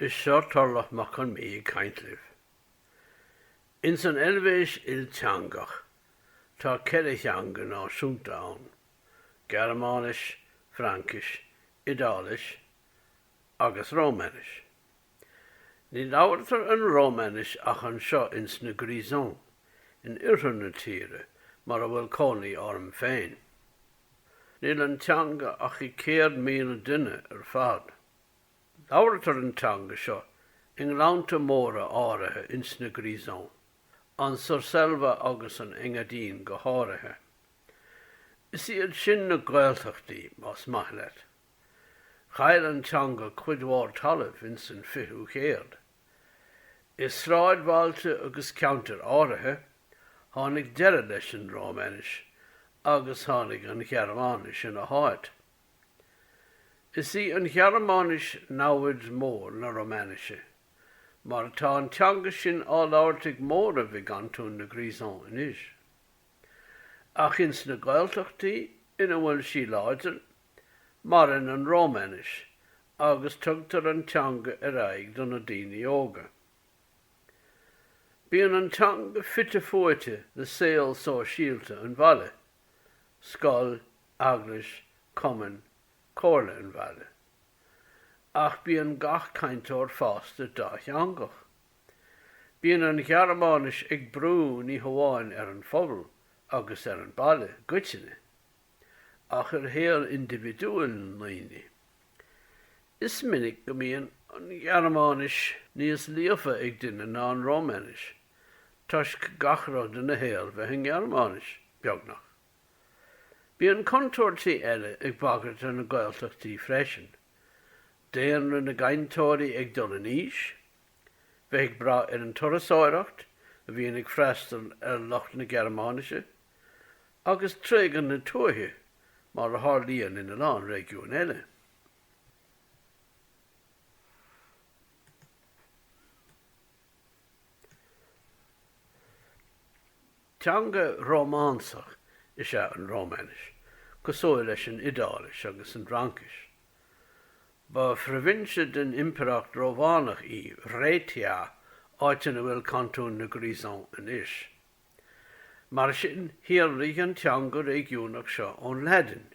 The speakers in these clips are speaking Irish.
Is seo Turlough Mac Con Mí ag caint libh. Ins an Eilvéis ilteangach, tá ceithre theanga náisiúnta ann, Gearmáinis, Fraincis, Iodáilis agus Rómainis. Ní labhartar an Rómainis ach anseo ins na Grisons, in oirthear na tíre, mar a bhfuil cónaí orm féin. Níl an teanga ach ag 100,000 duine ar fad. Labhartar an teanga seo i ngleannta móra áirithe ins na Grisons, an Surselva agus an Engadine go háirithe. Is iad sin na Gaeltachtaí, más maith leat. Chaill an teanga cuid mhór talaimh ins an 20ú céad. I sráidbhailte agus ceantair áirithe, tháinig deireadh leis an Rómainis agus tháinig an Ghearmáinis ina háit. Is í an Ghearmáinis namhaid mór na Romainise, mar tá an teanga sin á labhairt ag móramh i gcantún na Grisons anois. Ach ins na Gaeltachtaí ina bhfuil sí láidir, maireann an Rómainis agus tugtar an teanga ar aghaidh do na daoine óga. Bíonn an teanga fite fuaite le saol sóisialta an bhaile, scoil, eaglais, cumainn, comhairle an bhaile. Ach bíonn gach cainteoir fásta dátheangach. Bíonn an Ghearmáinis ag brú ní hamháin ar an phobal agus ar an bhaile i gcoitinne, ach ar shaol indibhidiúil na ndaoine. Is minic go mbíonn an Ghearmáinis níos líofa ag duine ná an Rómainis, toisc gach rud ina shaol bheith i nGearmáinis, beagnach. Bíonn contúirtí eile ag bagairt ar na Gaeltachtaí freisin, daonra na gcainteoirí ag dul in aois, bheith ag brath ar an turasóireacht a bhíonn ag freastal ar lucht na Gearmáinise, agus tréigean na tuaithe mar a tharlaíonn ina lán réigiúin eile. Teanga Rómánsach is ea an Rómainis, cosúil leis an Iodáilis agus an Fhraincis. Ba phroibhinse den Impireacht Rómhánach í Raetia, áit ina bhfuil cantún na Grisons anois. Mar sin, shíolraigh an teanga réigiúnach seo ón Laidin.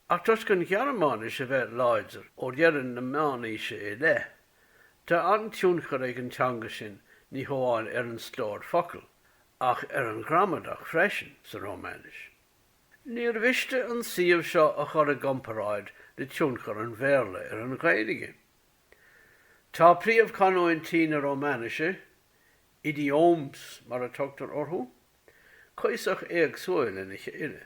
Ach toisc an Ghearmáinis a bheith láidir ó dheireadh na meánaoise i leith, tá an-tionchar ag an teanga sin ní hamháin ar an stór focal, ach ar an ghramadach freisin, sa Rómainis. Níor mhiste an suíomh seo a chur i gcomparáid le tionchar an Bhéarla ar an Ghaeilge. Tá príomhchanúintí na Rómainise, idiomes mar a tugtar orthu, cuíosach éagsúil lena chéile.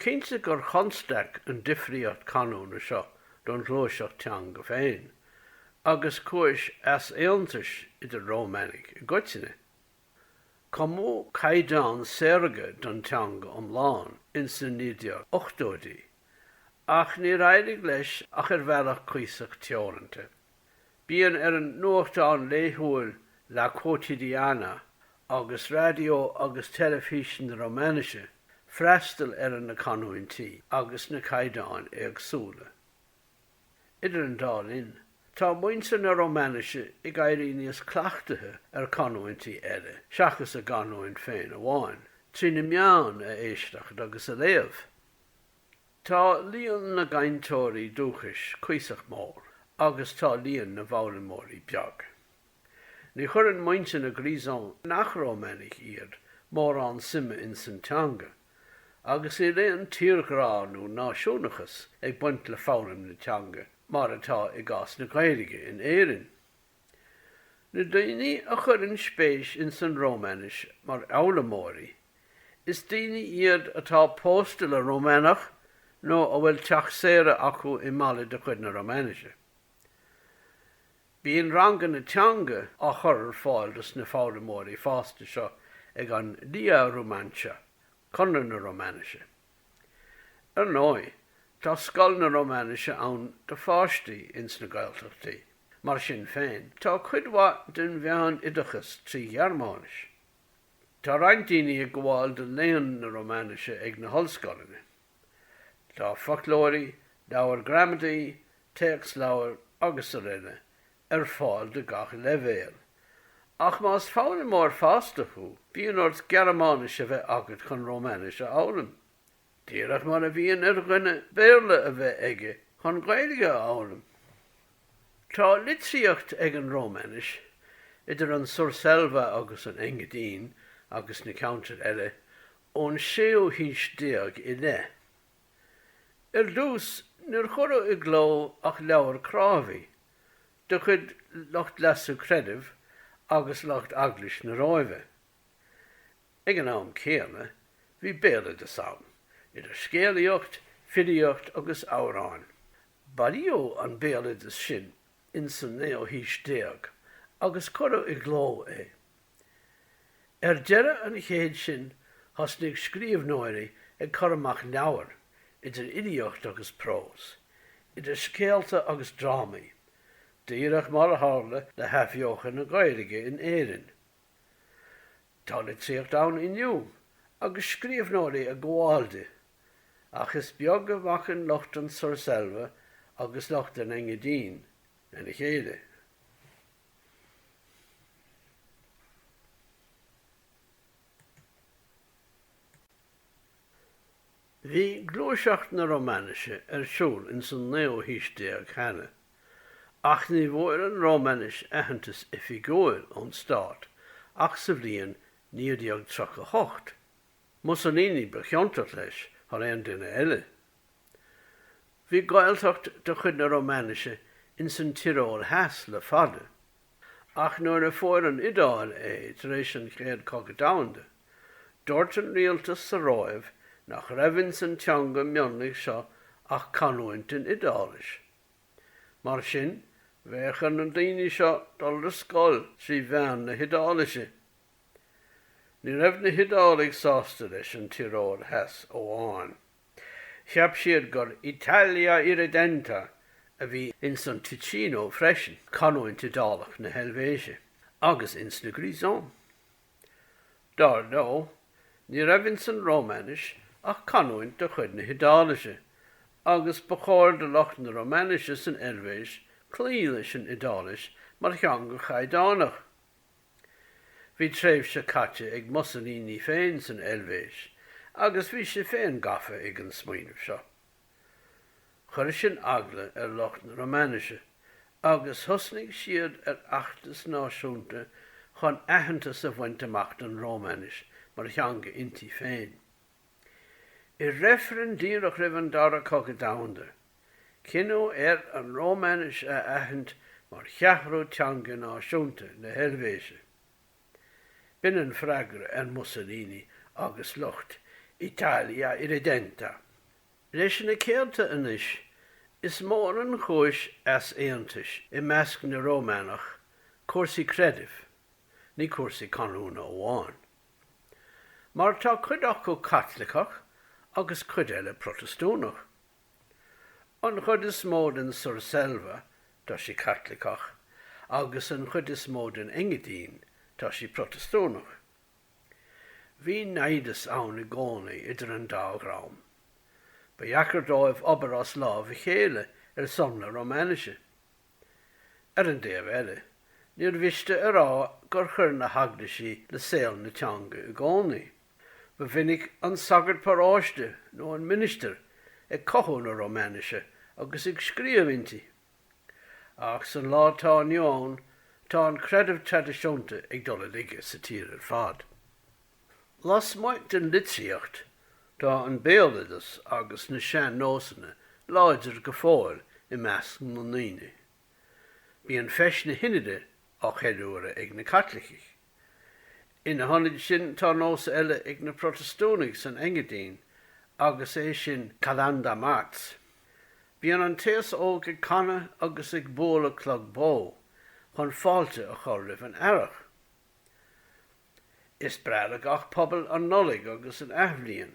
Cinnte gur chonstaic an difríocht canúna seo don ghluaiseacht teanga féin, agus cúis easaontais idir Rómainigh i gcoitinne. Cumadh caighdeán saorga don teanga iomlán ins na 1980idí, ach níor éirigh leis ach ar bhealach cuíosach teoranta. Bíonn ar an nuachtán laethúil La Quotidiana agus raidió agus teilifís na Rómainise freastal ar na canúintí agus na caighdeáin éagsúla. Idir an dá linn, tá muintir na Rómainise ag éirí níos cleachtaithe ar canúintí eile seachas a gcanúint féin amháin, trí na meáin a éisteacht agus a léamh. Tá líon na gcainteoirí dúchais cuíosach mór agus tá líon na bhfoghlaimeoirí beag. Ní chuireann muintir na Grisons, nach Rómainigh iad, mórán suime insan teanga, agus níl aon tírghrá nó náisiúnachas ag baint le foghlaim na teanga, mar atá i gcás na Gaeilge in Éirinn. Na daoine a chuireann spéis insan Rómainis mar fhoghlaimeoirí, is daoine iad atá pósta le Rómánach nó a bhfuil teach saoire acu i mbaile de chuid na Rómainise. Bíonn ranganna teanga á chur ar fáil dos na foghlaimeoirí fásta seo ag an Lia Rumantscha, Conradh na Rómainise. Ar ndóigh, tá scoil na Rómainise ann do pháistí ins na Gaeltachtaí. Mar sin féin, tá cuid mhaith den mheánoideachas trí Ghearmáinis. Tá roinnt daoine ag gabháil do léann na Rómainise ag na hollscoileanna. Tá foclóirí, leabhair gramadaí, téacsleabhair, agus araile, ar fáil do gach leibhéal. Ach más foghlaimeoir fásta thú, bíonn ort Gearmáinis a bheith agat chun Rómainis a fhoghlaim, díreach mar a bhíonn ar dhuine Béarla a bheith aige chun Gaeilge a fhoghlaim. Tá litríocht ag an Rómainis, idir an Surselva agus an Engadine agus na ceantair eile, ón séú haois déag i leith. Ar dtús, níor cuireadh i gcló ach leabhair crábhaidh. de chuid lucht leasa creidimh agus lucht Eaglais na Róimhe. Ag an am céanna, bhí béaloideas ann, idir scéalaíocht, filíocht agus amhráin. Bailíodh an béaloideas sin ins an naoú haois déag agus cuireadh i gcló é. Ar deireadh an chéid sin thosnaigh scríobhnóirí ag cur amach leabhair, idir fhilíocht agus prós, idir scéalta agus drámaí, díreach mar a tharla le hAthbheochan na Gaeilge in Éirinn. Tá litríocht ann inniu agus scríobhnóirí ag gabháil di, ach is beag a bhacann lucht an Surselva agus lucht an Engadine lena chéile. Bhí gluaiseacht na Rómainise ar siúl ins an naoú haois déag cheana, ach ní bhfuair an Rómainis aitheantas oifigiúil ón stát ach sa bhliain 1938. Mussolini ba chiontach leis thar aon duine eile. Bhí Gaeltacht de chuid na Rómainise ins an Tioról Theas le fada, ach nuair a fuair an Iodáil é tar éis an Chéad Chogadh Domhanda, dúirt an rialtas sa Róimh nach raibh ins an teanga mionlaigh seo ach canúint den Iodáilis. Mar sin, bheadh ar na daoine seo dul ar scoil trí mheán na hIodáilise. Ní raibh na hIodálaigh sásta leis an Tioról Theas amháin. Cheap siad gur Italia Irredenta a bhí ins an Ticino freisin, cantún Iodálach na hEilvéise, agus ins na Grisons. Dar ndóigh, ní raibh ins an Rómainis ach canúint de chuid na hIodáilise, agus ba chóir do lucht na Rómainise san Eilvéis cloí leis an Iodáilis mar theanga chaighdeánach. Bhí tréimhse caite ag Mussolini féin san Eilvéis agus bhí sé féin gafa ag an smaoineamh seo. Chuir sin eagla ar lucht na Rómainise agus thosnaigh siad ar fheachtas náisiúnta chun aitheantas a bhaint amach don Rómainis mar theanga inti féin. I reifreann díreach roimh an Dara Cogadh Domhanda, cinneadh ar an Rómainis a aithint mar cheathrú teanga náisiúnta na hEilvéise. B'in an freagra ar Mussolini agus lucht Italia Irredenta. Leis na céadta anois, is mór an chúis easaontais i measc na Rómánach, cúrsaí creidimh, ní cúrsaí canúna amháin. mar tá cuid acu Caitliceach agus cuid eile Protastúnach. An chuid is mó den Surselva, tá sí Caitliceach agus an chuid is mó den Engadine, tá sí Protastúnach. Bhí naimhdeas ann i gcónaí idir an dá dhream. Ba dheacair dóibh obair as lámh a chéile ar son na Rómainise. Ar an dtaobh eile, níor mhiste a rá gur chuir na heaglaisí le saol na teanga i gcónaí. Ba mhinic an sagart paróiste nó an ministir ag cothú na Rómainise agus ag scríobh inti. Ach san lá atá inniu ann, tá an creideamh traidisiúnta ag dul i laige sa tír ar fad. Lasmuigh den litríocht, tá an béaloideas agus na sean-nósanna láidir go fóill i measc na ndaoine. Bíonn feis na hInide á cheiliúradh ag na Caitlicigh. Ina hionad sin tá nós eile ag na Protastúnaigh san Engadine agus é sin Chalandamarz. Bíonn an t-aos óg ag canadh agus ag bualadh clog bó chun fáilte a chur roimh an earrach. Is breá le gach pobal an Nollaig agus an Athbhliain,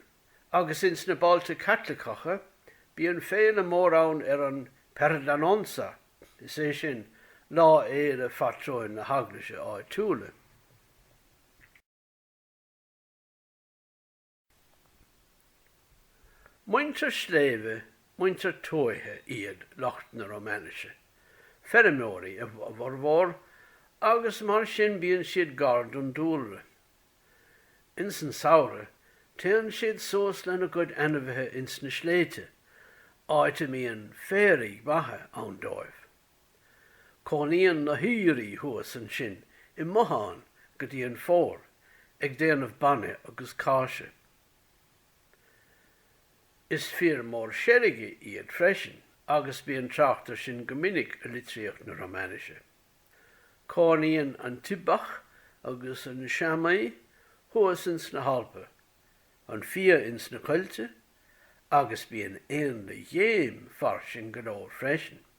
agus ins na bailte Caitliceacha bíonn féile mór ann ar an Perdanonza, is é sin, lá fhéile phátrúin na heaglaise áitiúla. Muintir sléibhe, muintir tuaithe iad lucht na Rómainise, feirmeoirí a bhformhór agus mar sin bíonn siad gar don dúlra. Ins an samhradh téann siad suas lena gcuid ainmhithe ins na sléibhte, áit a mbíonn féaraigh mhaithe ann dóibh. Cónaíonn na haoirí thuas ansin i mbotháin go dtí an Fómhar ag déanamh bainne agus cáise. Is fir mór seilge iad freisin agus bíonn trácht ar sin go minic i litríocht na Rómainise. Cónaíonn an t-ibeach agus an seamaí thuas ins na hAlpa, an fia ins na coillte agus bíonn éanlaith ghéim fairsing go leor freisin.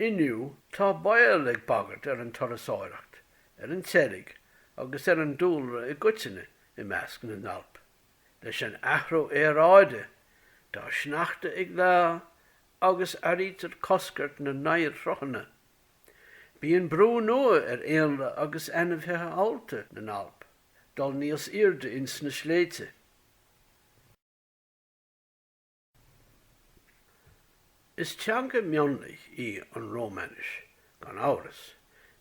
Inniu tá baol ag bagairt ar an turasóireacht, ar an tseilg agus ar an dúlra i gcoitinne i measc na nAlp. Leis an athrú aeráide, tá sneachta ag leá agus airítear coscairt na n-oighearshruthanna. Bíonn brú nua ar éanlaith agus ainmhithe allta na nAlp dul níos aoirde ins na sléibhte. Is teanga mionlaigh í an Rómainis, gan amhras,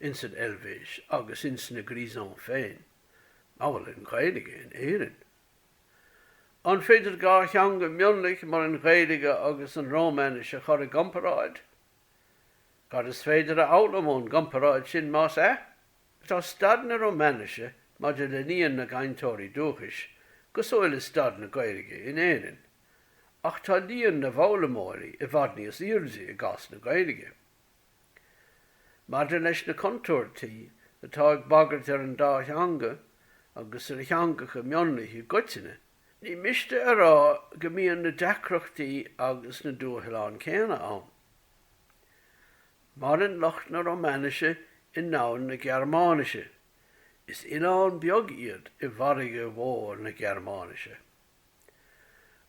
ins an Eilvéis agus ins na Grisons féin, amhail an Ghaeilge in Éirinn. An féidir dhá theanga mionlaigh mar an Ghaeilge agus an Rómainis a chur i gcomparáid? Cad is féidir a fhoghlaim ón gcomparáid sin, más ea? Tá staid na Rómainise maidir le líon na gcainteoirí dúchais cosúil le staid na Gaeilge in Éirinn, ach tá líon na bhfoghlaimeoirí i bhfad níos airde i gcás na Gaeilge. Maidir leis na contúirtí atá ag bagairt ar an dá theanga agus ar theangacha mionlaigh i gcoitinne, ní miste a rá go mbíonn na deacrachtaí agus na dúshláin céanna ann. Maireann lucht na Rómainise i ndomhan na Gearmáinise. Is oileán beag iad i bhfarraige mhór na Gearmáinise.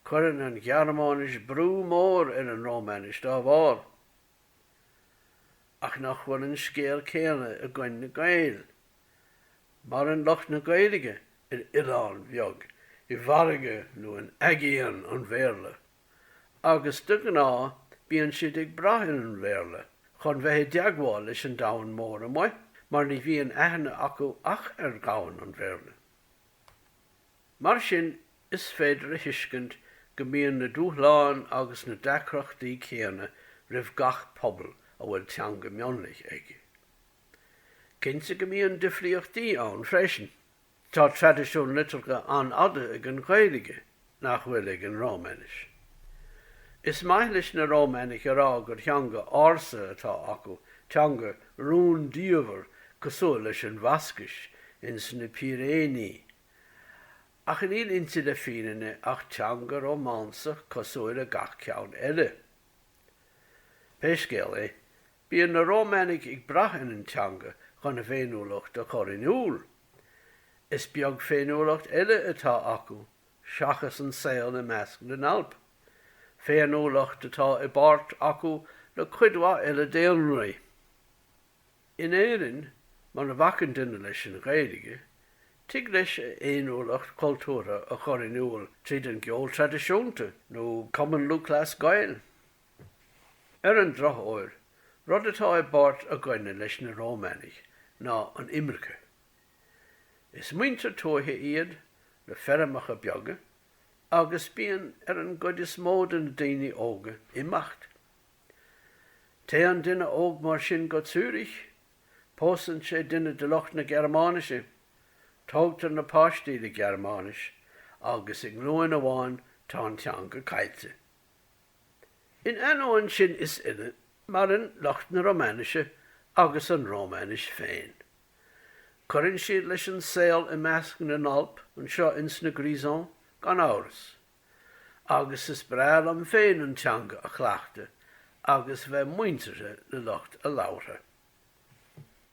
Cuireann an Ghearmáinis brú mór ar an Rómainis dá bharr. Ach nach bhfuil an scéal céanna againn na Gaeil? Maireann lucht na Gaeilge ar oileán beag i bhfarraige nó in aigéan an Bhéarla. agus de ghnáth bíonn siad ag brath ar an Bhéarla chun bheith i dteagmháil leis an domhan mór amuigh mar ní bhíonn aithne acu ach ar dhomhan an Bhéarla. Mar sin is féidir a thuiscint go mbíonn na dúshláin agus na deacrachtaí céanna roimh gach pobal a bhfuil teanga mionlaigh aige. Cinnte go mbíonn difríochtaí ann freisin. Tá traidisiún liteartha an-fhada ag an Ghaeilge nach bhfuil ag an Rómainis. Is maith leis na Rómainigh a rá gur theanga ársa atá acu, teanga rúndiamhair cosúil leis an Bhascais ins na Píréiní. Ach níl inti le fírinne ach teanga rómánsach cosúil le gach ceann eile. Pé scéal é, bíonn na Rómainigh ag brath ar an teanga chun a bhféiniúlacht a chur in iúl. Is beag féiniúlacht eile atá acu seachas an saol i measc na nAlp, féiniúlacht atá i bpáirt acu le cuid mhaith eile daonraí. In Éirinn, mura bhacann duine leis an Ghaeilge, tig leis a fhéiniúlacht chultúrtha a chur in iúl tríd an gceol traidisiúnta nó Cumann Lúthchleas Gael. Ar an drochuair, rud atá i bpáirt i gcoinne leis na Rómainigh ná an imirce. Is muintir tuaithe iad, le feirmeacha beaga, agus bíonn ar an gcuid is mó de na daoine óga imeacht. Téann duine óg mar sin go Zürich, pósann sé duine de lucht na Gearmáinise, tógtar na páistí le Gearmáinis, agus i nglúin amháin tá an teanga caillte. In ainneoin sin is uile, maireann lucht na Romainise agus an Romainis féin. Cuireann siad leis an saol i measc na nAlp anseo ins na Grisons, gan amhras. Agus is breá liom féin an teanga a chleachtadh agus bheith muinteartha le lucht a labhartha.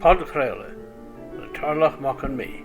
Podchraoladh le Tarlach Mac Con Midhe.